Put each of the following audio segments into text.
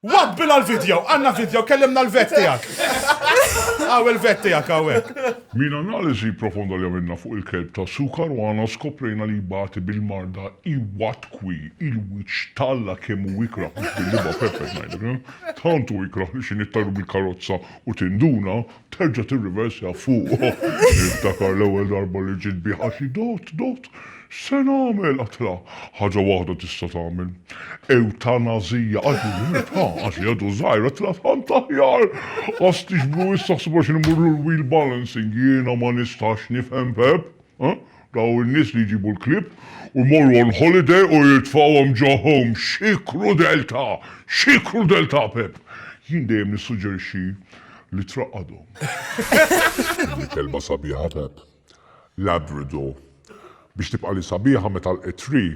Wabbila l-video, għanna video, kellimna l-vet tijak. Għaw il-vet tijak, għawek. Minn analiżi profonda li għamilna fuq il-kelb ta' Su Caruana skoprejna li jbati bil-marda Iwatwi, il-wiċċ t'Alla kemm hu ikrah mhux bil-libgħa Pepe ngħidlek, tant hu ikrah li xi nittajru bil-karozza u tinduna, Terġa' tirriversja fuq. Niftakar l-ewwel darba li ġiet bi ħaxi dott, dott, x'se nagħmel? Għadtilha, ħaġa waħda tista' tagħmel. Ewtanazija! Qaltli, Ġużeppi, ha, qaltli għadu żgħir, għadtilha tant aħjar! Ħasstix blu issa ħsibha x'inhi mmur lur wheel balancing, jiena ma nistax nifhem, Pepp. Dawn in-nies li jġibu l-klieb u jmorru on holiday u jitfgħuhom ġo home. Xi krudeltà! Xi krudeltà, Pepp! Jien dejjem nissuġġerixxi li traqqadhom. Din il-kelma sabiħa, Pepp. Labrador. Biex tibqali sabiħa meta l-qed tree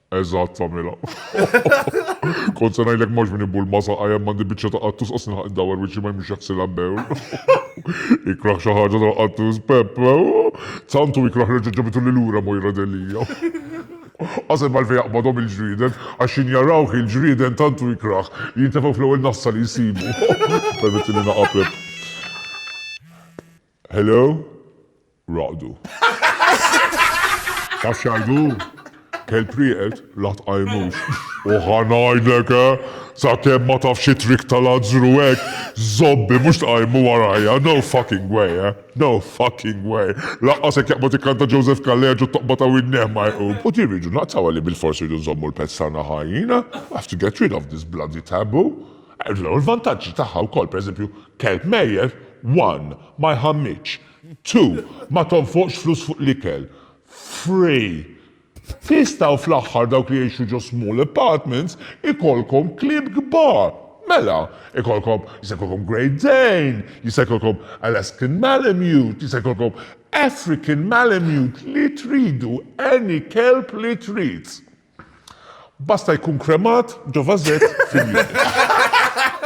Eżatt tagħmilha. Kont se ngħidlek mhux min ibul ma saqa' hemm għandi biċċa ta' qattus qas nilħaq dawar wiċċi ma jmux jaħsilha bewl. Ikrah xi ħaġa ta' qattus Pepp. Santu ikrah reġa' ġabitu lil lura Mojra Delia. Qasem għalfejn jaqbadhom il-ġrieden, għax xi njarawh il-ġrieden tantu ikrah li jintefgħu fl-ewwel nassa li jsibu. Permetti li naqaplek. Hello? Raqdu. Taf xajdu? Kel prieqet, la tqajmux. U ħanajdlek, eh? Sa kem ma taf xi trik tal-azzru hekk, zobbi mhux tqajmu warajja, no fucking way, eh? No fucking way. Laqqa se jaqbad ikkanta Joseph Kalleġ u toqba ta' winneh ma jqum. U din rridu naqtaw li bil-fors rridu nżommu l-pezz tagħna ħajjin, eh? I have to get rid of this bloody taboo. L-ewwel vantaġġi tagħha wkoll, pereżempju, kelb mejjet, one, ma jħammitx, two, ma tonfoqx flus fuq l-ikel, three, tista' u fl-aħħar dawk li jgħixu ġo small apartments ikollkom klieb kbar, mela, ikollkom, jista' jkollkom Great Dane, jista' jkollkom Alaskan Malamute, jista' jkollkom African Malamute, li tridu, any kelb li trid. Basta jkun kremat ġo vażett fil-jiem.